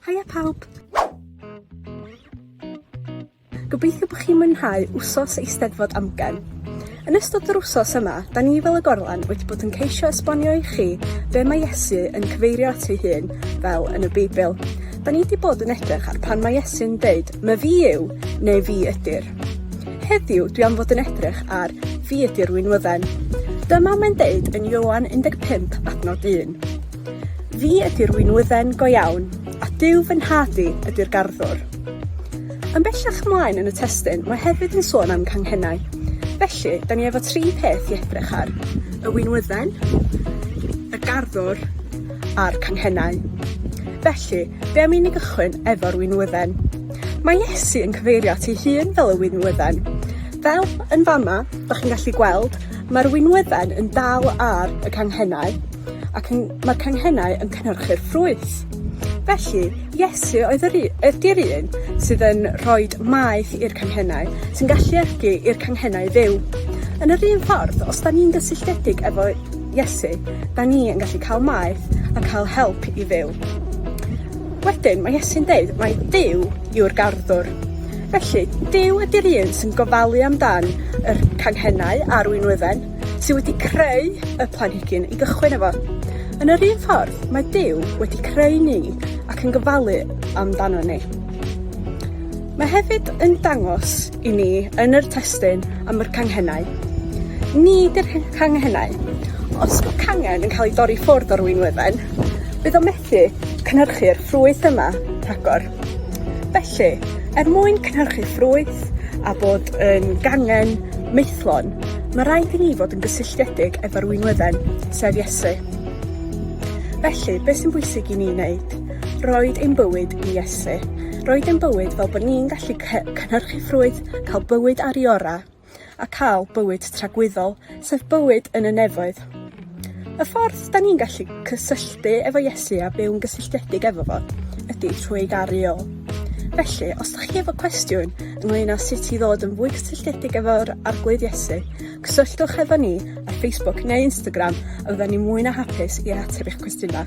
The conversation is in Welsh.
Haia pawb! Gobeithio bod chi'n mwynhau wsos Eisteddfod Amgen. Yn ystod yr wsos yma, da ni fel y gorlan wedi bod yn ceisio esbonio i chi be mae Iesu yn cyfeirio at ei hun fel yn y Beibl. Da ni wedi bod yn edrych ar pan mae Iesu'n dweud, mae fi yw, neu fi ydy'r. Heddiw, dwi am fod yn edrych ar fi ydy'r winwydden. Dyma mae'n deud yn Ioan 15 adnod 1. Fi ydy'r winwydden go iawn, a Duw fy nhad i ydy'r garddwr. Yn bellach ymlaen yn y testun mae hefyd yn sôn am ganghennau. Felly, da ni efo tri peth i edrych ar, y winwydden, y garddwr, a'r canghennau. Felly, be' am i ni gychwyn efo'r winwydden? Mae Iesu yn cyfeirio at ei hun fel y winwydden. Fel yn fama, 'dach chi'n gallu gweld, mae'r winwydden yn dal ar y canghennau. ac yn... mae'r canghennau yn cynhyrchu'r ffrwyth. Felly, Iesu oedd yr u- ydi'r un sydd yn rhoi maeth i'r canghennau, sy'n galluogi i'r canghennau fyw. Yn yr un ffordd, os 'da ni'n gysylltiedig efo Iesu, 'da ni yn gallu cael maeth a cael help i fyw. Wedyn, mae Iesu'n deud mai Duw yw'r garddwr. Felly, Duw ydi'r un sy'n gofalu amdan yr canghennau a'r winwydden. sy wedi creu y planhigyn i gychwyn efo. Yn yr un ffordd, mae Duw wedi creu ni ac yn gofalu amdano ni. Mae hefyd yn dangos i ni yn yr testyn am yr canghennau. Ni dy'r canghennau. Os yw cangen yn cael ei dorri ffwrdd o'r wynwydden, bydd o methu cynhyrchu'r ffrwyth yma rhagor. Felly, er mwyn cynhyrchu ffrwyth a bod yn gangen maethlon, mae rhaid i ni fod yn gysylltiedig efo'r winwedden, sef Iesu. Felly, beth sy'n bwysig i ni wneud? Roed ein bywyd i Iesu. Roed ein bywyd fel bod ni'n gallu cynhyrchu ffrwyth, cael bywyd ar i orau. a cael bywyd tragwyddol, sef bywyd yn y nefoedd. Y ffordd da ni'n gallu cysylltu efo Iesu a byw'n gysylltiedig efo fo ydy trwy ei garu o. Felly, os da chi efo cwestiwn ynglyn â sut i ddod yn fwy cysylltiedig efo'r Arglwydd Iesu, cysylltwch efo ni ar Facebook neu Instagram a fydda ni mwy na hapus i ateb eich cwestiynau.